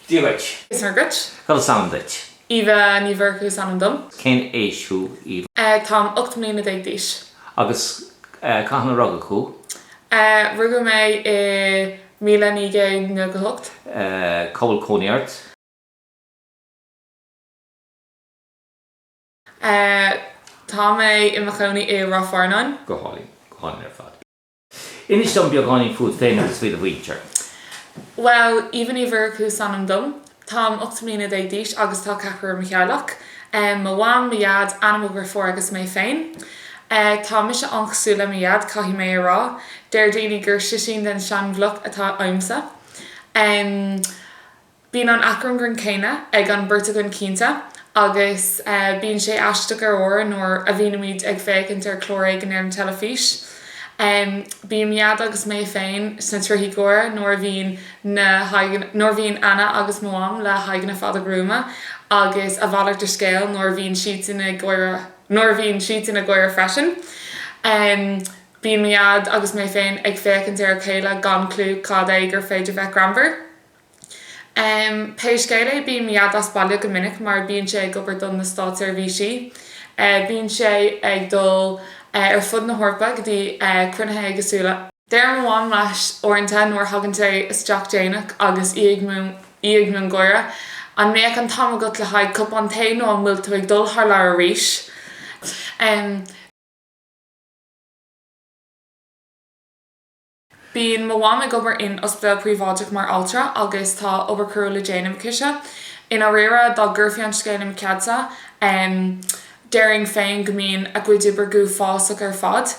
Dia dhuit. Is Muire dhuit. Cad is ainm duit? Eva Ní Mhurchú is ainm dom. Cén aois thú, Eva? Táim ocht mbliana déag d'aois. Agus cathain a rugadh thú? Rugadh mé i míle naoi gcéad nócha a hocht. Cá bhfuil cónaí ort? Tá mé i mo chónaí i Ráth Fearnáin. Go hálainn. Go hálainn ar fad. Inis dom beagáinín fút féin agus faoi do mhuintir. Bhuel, Eva Ní Mhurchú is ainm dom. Táim ocht mbliana déag d'aois agus tá ceathrar i mo theaghlach. Mo mham, mo dhaid, Anna mo dheirfiúr agus mé féin. Tá mise an-chosúil le mo dhaid, caithfidh mé a rá. Deir daoine gur slisín den seanbhloc atá ionamsa. Bíonn an acmhainn grinn céanna ag an mbeirt againn cinnte, agus bíonn sé aisteach ar uaire nuair a bhíonnaimíd ag féachaint ar chlár éigin ar an teilifís. Bíonn mo dhaid agus mé féin sna trithí gáire nuair a bhíonn na haghaidheanna, nuair a bhíonn Anna agus mo Mham le haghaidheanna fada gruama, agus a mhalairt de scéal nuair a bhíonn siadsan ag gáire, nuair a bhíonn siadsan ag gáire freisin. Bíonn mo dhaid agus mé féin ag féachaint ar a chéile gan clú cad é gur féidir bheith greannmhar. Pé scéal é bíonn mo dhaid as baile go minic mar bíonn sé ag obair do na státseirbhísí. Bíonn sé ag dul ar fud na hEorpa go dtí cruinnithe éagsúla. Deir mo mham leis uaireanta nuair a thagann sé isteach déanach agus í ag miongháire, An mbeadh an t-am agat le haghaidh cupán tae nó an bhfuil tú ag dul thar lear arís? Bíonn mo mham ag obair in ospidéal príobháideach mar altra agus tá obair crua le déanamh aicise. I ndáiríre, dá gcuirfí an scéal i mo cheadsa, déarfainn féin go mbíonn a cuid oibre go huafásach ar fad.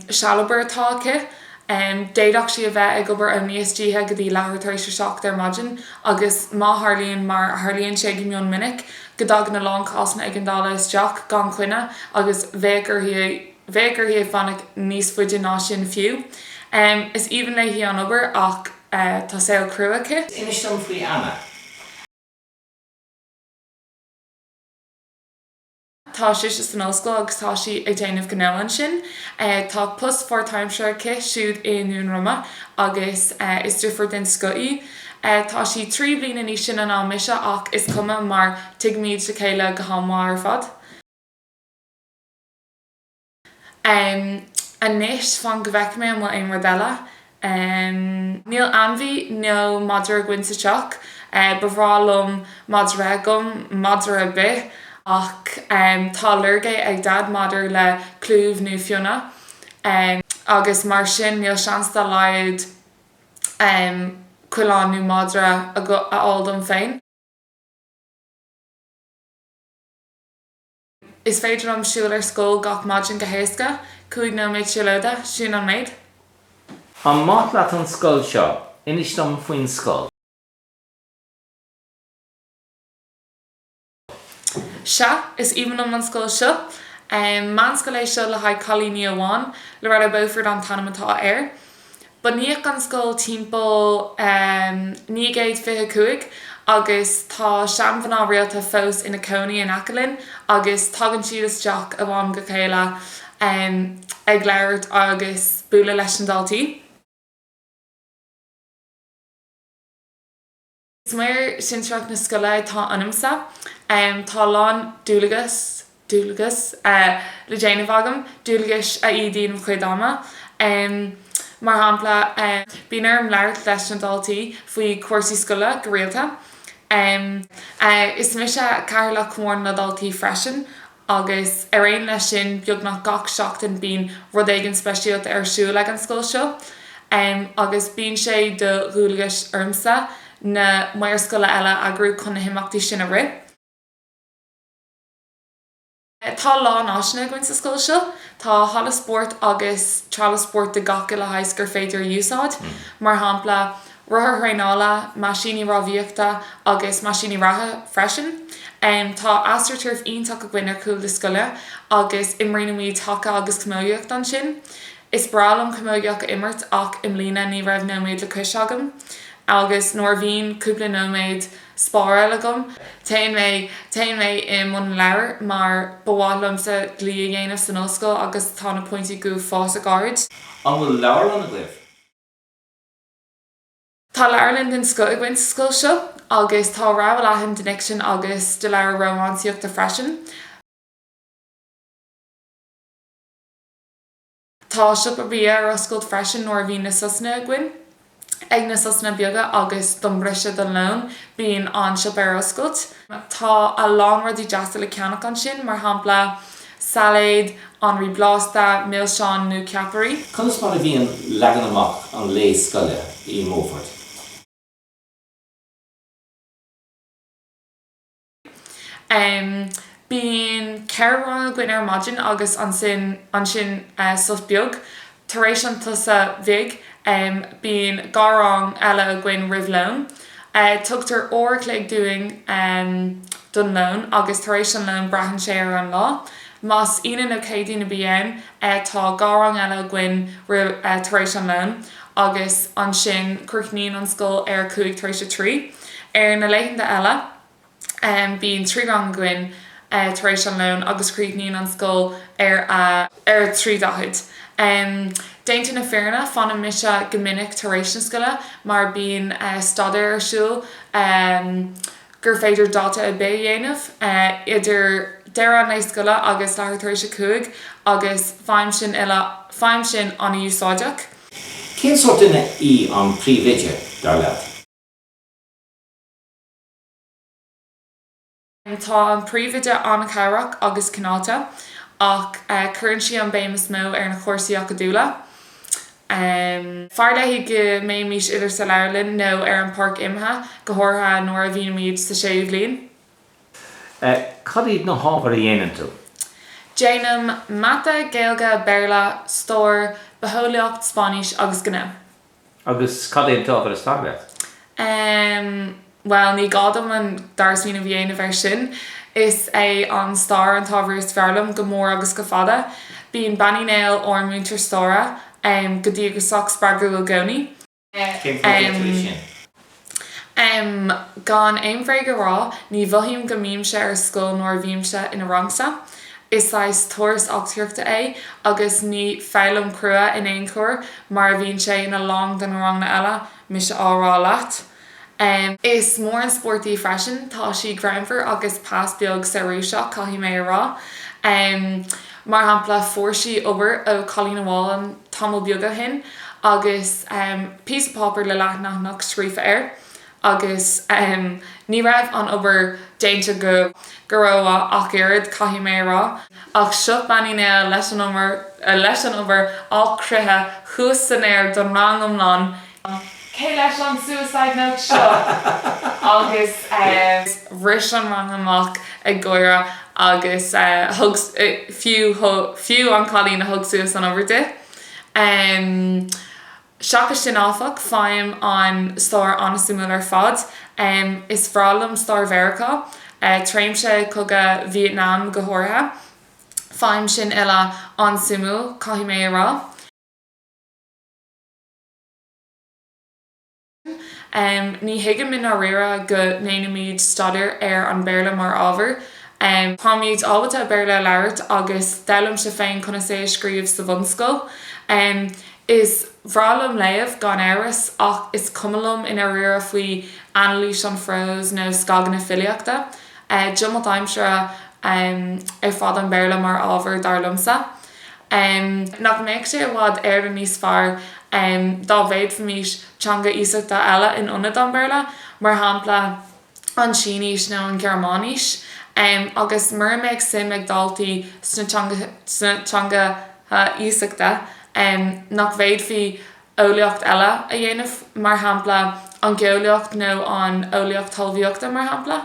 Sealobair atá aici. D'fhéadfadh sí a bheith ag obair ó a naoi istoíche go dtí leathuair tar éis a seacht ar maidin agus má tharlaíonn, mar a tharlaíonn sé go mion minic, go dtagann a lán cásanna éigeandála isteach gan choinne agus bheadh uirthi a Bheadh uirthi fanacht níos faide ná sin fiú. Is aoibhinn léi an obair ach tá saol crua aici. Is inis dom faoi Anna. Tá sise san ollscoil agus tá sí ag déanamh gnó ansin. Tá post pháirtaimseartha aici siúd i nDún Rama agus is deirfiúr den scoth í. Tá sí trí bhliana níos sine ná mise ach is cuma mar tuigimid a chéile go han-mhaith ar fad. Um, anois, fan go bhfeice mé an bhfuil aon rud eile. Um, níl ainmhí nó madra againn sa teach. Eh, ba bhreá liom madra agam, madra ar bith, ach, em, tá ailléirge ag Dad maidir le clúmh nó fionnadh. Um, agus mar sin níl seans dá laghad, em, coileán nó madra agu- a fháil dom féin. Is féidir liom siúl ar scoil gach maidin go héasca, cúig nóiméad siúlóide, sin an méid. An maith leat an scoil seo? Inis dom faoin scoil. Sea, is aoibhinn liom an scoil seo. Meánscoil é seo le haghaidh cailíní amháin. Loreto Beaufort an t-ainm atá air. Bunaíodh an scoil timpeall 925 agus tá seanmhná rialta fós ina cónaí in aice linn agus tagann siad isteach ó am go chéile ag labhairt agus bualadh leis na daltaí. Is maor sinsearach na scoile atá ionamsa. Tá a lán dualgas, dualgas, le déanamh agam, dualgais a ídíonn mo chuid ama. Mar shampla, bíonn orm labhairt leis na daltaí faoi chúrsaí scoile go rialta. Is mise Cathaoirleach Chomhairle na nDaltaí freisin agus ar aon leis sin beagnach gach seachtain bíonn rud éigin speisialta ar siúl ag an scoil seo agus bíonn sé de dhualgas ormsa na maoir scoile eile a eagrú chun na himeachtaí sin a rith. Tá a lán áiseanna againn sa scoil seo. Tá halla spóirt agus treallamh spóirt de gach uile shaghas gur féidir a úsáid, mar shampla, rothair thraenála, meaisíní rámhaíochta agus meaisíní reatha freisin. Tá AstroTurf iontach againn ar chúl na scoile agus imríonnaimíd haca agus camógaíocht ansin. Is breá liom camógaíocht a imirt ach i mbliana ní raibh nóiméad le cois agam agus nuair a bhíonn cúpla nóiméad spártha agam, téann mé, téann mé i mbun leabhar mar ba mhaith liomsa dlí a dhéanamh san ollscoil agus tá na pointí go fíor-ard. An bhfuil leabharlann agaibh? Tá leabharlann den scoth againn sa scoil seo agus tá rogha leathan den fhicsean agus de leabhair rómánsaíochta freisin. Tá siopa bia ar oscailt freisin nuair a bhíonn na sosanna againn, ag na sosanna beaga agus don briseadh don lón bíonn an siopa ar oscailt. Tá a lán rudaí deasa le ceannach ansin, mar shampla, Sailéad, anraí blasta, milseáin nó ceapairí. Conas mar a bhíonn leagan amach an lae scoile i mBeaufort? Bíonn ceithre rang againn ar maidin agus ansin sos beag. Tar éis an tsosa bhig bíonn dhá rang eile againn roimh lón. Tugtar uair a chloig dúinn don lón agus tar éis an lóin braitheann sé ar an lá. Más Aoine nó Céadaoin a bhíonn tá dhá rang eile againn tar éis an lón agus ansin críochnaíonn an scoil ar a chúig tar éis a trí. Ar na laethanta eile. Bíonn trí rang againn tar éis an lón agus críochnaíonn an scoil ar a 3:40. Déanta na fírinne fanann mise go minic tar éis na scoile mar bíonn staidéar ar siúl gur féidir dalta ar bith a dhéanamh idir deireadh an lae scoile agus leathuair tar éis a cúig agus faighim sin uile, faighim sin an-úsáideach. Cén sórt duine í an príomhoide, dar leat? Tá an Príomhoide an-chabhrach agus cineálta ach cuireann sí an béim is mó ar na cúrsaí acadúla. Fearr léi go mbéimís idir sa leabharlann nó ar an bpáirc imeartha, go háirithe nuair a bhímíd sa séú bhliain. Cad iad na hábhair a dhéanann tú? Déanaim Mata, Gaeilge, Béarla, Stair, Bitheolaíocht, Spáinnis agus Gnó. Agus cad é an t-ábhar is fearr leat? Em, bhuel, ní gá dom an dara smaoineamh a dhéanamh air sin. Is é an stair an t-ábhar is fearr liom go mór agus go fada. Bíonn Bean Uí Néill, ár múinteoir staire, em, go díograsach spreagúil i gcónaí. Cén fáth a dhéantar é sin? Em, gan aon bhréag a rá, ní mhothaím go mbímse ar scoil nuair a bhímse in a rangsa. Is saghas turas eachtraíochta é agus ní foghlaim crua in aon chor mar a bhíonn sé in a lán de na ranganna eile, mise á rá leat. Em. Is mór an spórt í freisin, tá sí greannmhar agus pas beag searbhasach, caithfidh mé a rá. Em. Mar shampla, fuair sí obair ó chailín amháin tamall beag ó shin agus píosa páipéar le leathanach scríofa air agus ní raibh an obair déanta go go rómhaith ach oiread, caithfidh mé a rá. Ach seo Bean Uí Néill leis an obair á croitheadh thuas san aer don rang iomlán Cé leis an suicide note seo? agus. bhris an rang amach ag gáire agus fiú an cailín a thug suas an obair di. Seachas sin áfach, faighim an stair an-suimiúil ar fad. Is bhreá liom stair Mheiriceá, tréimse cogadh Vietnam go háirithe. Faighim sin uile an-suimiúil, caithfidh mé a rá. Ní thuigim i ndáiríre go ndéanfaimid staidéar ar an Béarla mar ábhar. Táimid ábalta Béarla a labhairt agus d'fhoghlaimíos féin conas é a scríobh sa bhunscoil. Is bhreá liom léamh, gan amhras, ach is cuma liom i ndáiríre faoi anailís an phróis nó scagadh na filíochta. Diomailt aimsire ar fad an Béarla mar ábhar, dar liomsa. Nach mbeadh sé i bhfad Éireann níos fearr dá bhféadfaimís teanga iasachta eile in ionad an Béarla, mar shampla an tSínís nó an Ghearmáinís? Agus mura mbeadh suim ag daltaí sna teangacha iasachta, nach bhféadfaí eolaíocht eile a dhéanamh, mar shampla an gheolaíocht nó an eolaíocht talmhaíochta, mar shampla?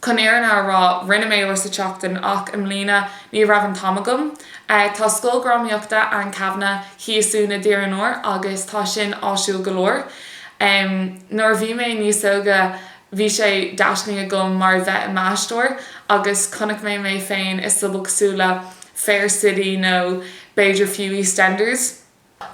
Chun an fhírinne a rá, rinne mé uair sa tseachtain ach i mbliana ní raibh an t-am agam. Tá Scoil Dhrámaíochta Anne Kavanagh thíos i nDún Tíre an Iúir agus tá sin áisiúil go leor. Nuair a bhí mé níos óige bhí sé d'aisling agam mar a bheith i m'aisteoir agus chonaic mé mé féin i sobalchlár Fair City nó b'fhéidir fiú EastEnders.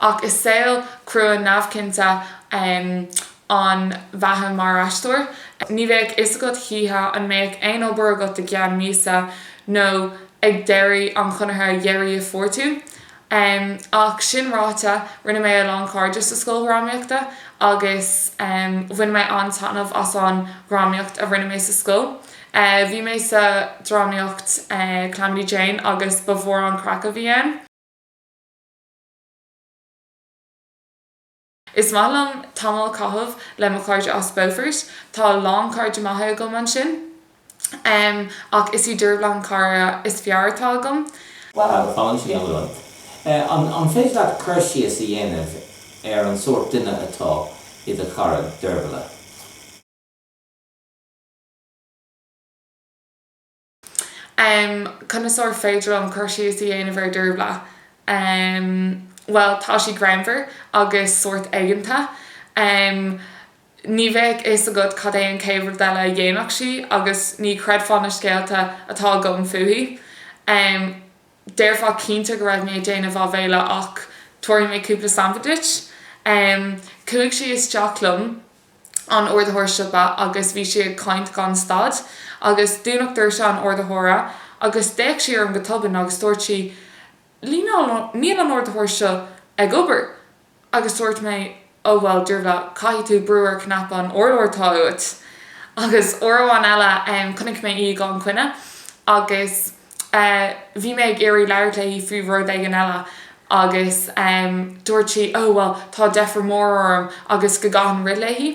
Ach is saol crua neamhchinnte an bheatha mar aisteoir. Ní bheadh fhios agat choíche an mbeadh aon obair agat i gceann míosa nó ag deireadh an chonartha dheiridh a fuair tú. Ach sin ráite, rinne mé a lán cairde sa scoil dhrámaíochta agus bhain mé an-taitneamh as an dhrámaíocht a rinne mé sa scoil. Bhí mé sa drámaíocht Calamity Jane agus ba mhór an craic a bhí ann. Is maith liom tamall a chaitheamh le mo chairde as Beaufort. Tá a lán cairde maithe agam ansin. Ach is í Dervla an cara is fearr atá agam. An féidir leat cur síos a dhéanamh ar an sórt duine atá i do chara Dervla? Um conas ar féidir liom cur síos a dhéanamh ar Dervla? Um bhuel tá sí greannmhar agus sórt aigeanta. Um ní bheadh fhios agat cad é an chéad rud eile a dhéanfadh sí agus ní chreidfeá na scéalta atá agam fúithi. Um. déarfá cinnte go raibh mé ag déanamh áibhéile ach tabharfaidh mé cúpla sampla duit. Chuaigh sí isteach liom in ardaitheoir siopa agus bhí sí ag caint gan stad agus dúnadh doirse an ardaitheora agus d'fhéach sí orm go tobann agus dúirt sí, Líneáil, níl an t-ardaitheoir seo ag obair. Agus dúirt mé, Ó bhuel, Dearbhla, caithfidh tú brú ar chnaipe an urláir atá uait. Agus uair amháin eile, chonaic mé í gan choinne agus bhí mé ag iarraidh labhairt léi faoi rud éigin eile agus dúirt sí, Ó, bhuel, tá deifir mhór orm agus go gcaithfinn rith léi.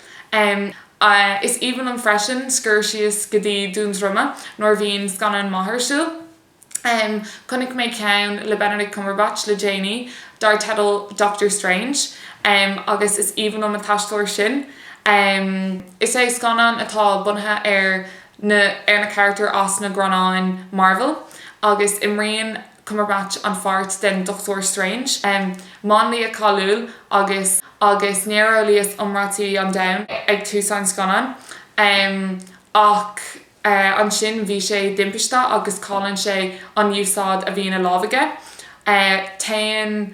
Is aoibhinn liom freisin scuird síos go dtí Dún Droma nuair a bhíonn scannán maith ar siúl. Chonaic mé ceann le Benedict Cumberbatch le déanaí dar teideal Doctor Strange agus is aoibhinn liom an t-aisteoir sin. Is é scannán atá bunaithe ar na carachtair as na greannáin Marvel agus imríonn. Cumberbatch an pháirt den Dochtúir Strange, máinlia cáiliúil agus agus néareolaíoch iomráití an domhain ag tús an scannáin. Ach ansin bhí sé i dtimpiste agus cailleann sé an úsáid a bhí ina lámh aige. Téann.